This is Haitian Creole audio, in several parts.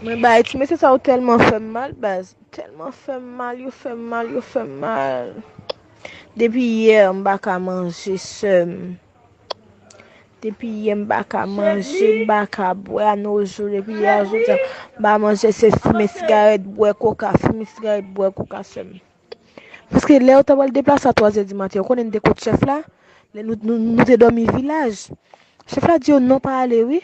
Mwen bay ti mesye sa yo telman fèm mal baz telman fèm mal yo fèm mal yo fèm mal depi yè m paka manje seum depi yè m paka manje m paka bwè a no jou depi yè jou m pa manje se fime sigarèt bwè koka fime sigarèt bwè koka seum paske lè yo ta pral deplase a 3 zè di maten yo konnen m te kot chèf la nou te domi vilaj chèf la di yo non pa ale wi.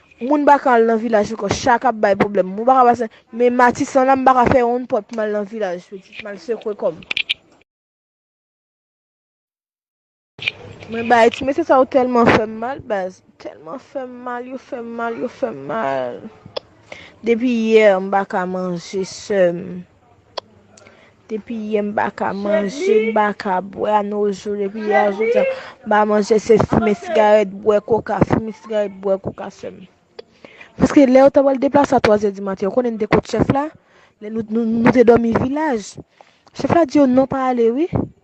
Moun baka al nan vilaj ankò chak ap bay problèm moun baka pase men matisan la m baka fè yon pòt mal nan vilaj pitit mal sekwe kòm. Mwen bay ti mesye sa yo tèlman fèm mal baz tèlman fèm mal yo fèm mal yo fèm mal depi hier m baka manje seum. Depi yè m pa ka manje, m pa ka bwè a no jou depi yè a jouk diya m pa manje se fimen sigarèt bwè koka fimen sigarèt bwè koka sèm paske lè yo ta pral deplase a twazyè di maten yo konnen de kot chèf la lè nou te dòmi vilaj chèf la di yo non pa ale wi.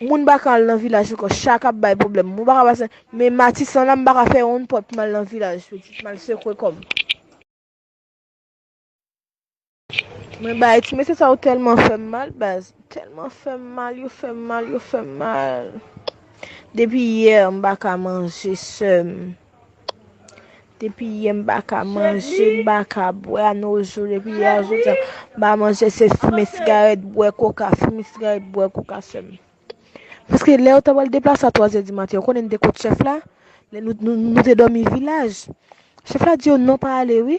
Moun bakan al nan vilaj yo kan chak ap bay problem moun bakan pase men matisan la m baka fè yon pot pou mal nan vilaj pitit mal sekwe kòm. Mwen bay ti mesye sa yo tèlman fèm mal baz tèlman fèm mal yo fèm mal yo fèm mal depi hier m baka manje seum. Depi yè m pa ka manje, m pa ka bwè anojou depi yè a jouk jounen m pa manje se fimen sigarèt, bwè koka, fimen sigarèt, bwè koka sèlman. Paske lè yo ta pral deplase a twazè di maten, ou konnen n te kot chèf la? Lè nou te dòmi vilaj. Chèf la di yo non pa ale wi.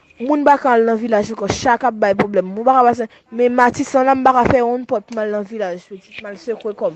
Moun bakan al nan vilaj ankò chak ap bay pwoblèm moun bakan pase men matisan la m paka fè yon pòt mal nan vilaj pitit mal sekwe kòm.